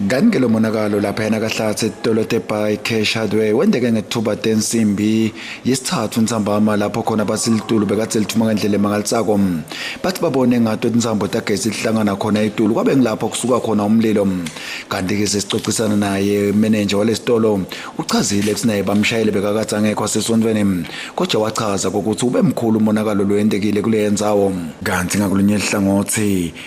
Kanti-ke lo monakalo laphayana kahlathi etolete by cash hardware wendeke ngethuba tensimbi yesithathu nsambama lapho khona bathi litulu bekade lithuma ngendlela emangalisako bathi babone ngato tinsambo tagesi lihlangana khona itulu kwabe ngilapho kusuka khona umlilo kanti-ke sesicocisana naye menenja walesitolo uchazile ukuthi naye bamshayele bekakade angekho asesontweni kodwa wachaza kokuthi ube mkhulu umonakalo loyendekile kuleyo ndzawo kanti ngakulunye hlangothi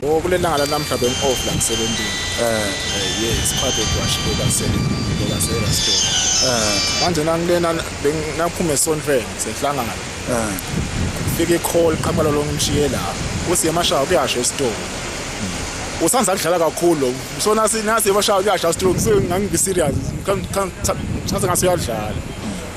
Oh kulelanga lanamhla ben off la ngisebenzile. Eh yes part of wash beka sele beka sele store. Eh manje nangilena benginaphume sonfeni sehlangana. Eh fike call qhamala lo ngimshiye la. Usiye mashaya kuyasho estore. usanza kudlala kakhulu so nasi nasi bashaya kuyasha stroke so ngangibe serious ngithatha ngase uyadlala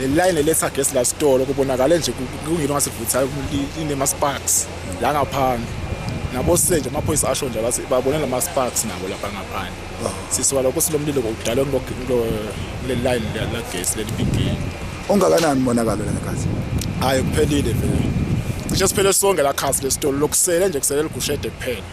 lelayini eletha gesi la sitolo kubonakale nje kungilo ngasivuthayo inema-sparks la ngaphandle nabosile nje amaphoyisa asho nje bathi babone la ma-sparks nabo lapha ngaphandle oh. sisuka lokho silomlilo kudala kuleli layini lagesi leli bigini ungakanani umonakalo lengathi hhayi kuphelile vele cishe siphele sonke la khasi lesitolo lokusele nje kusele ligushede kuphela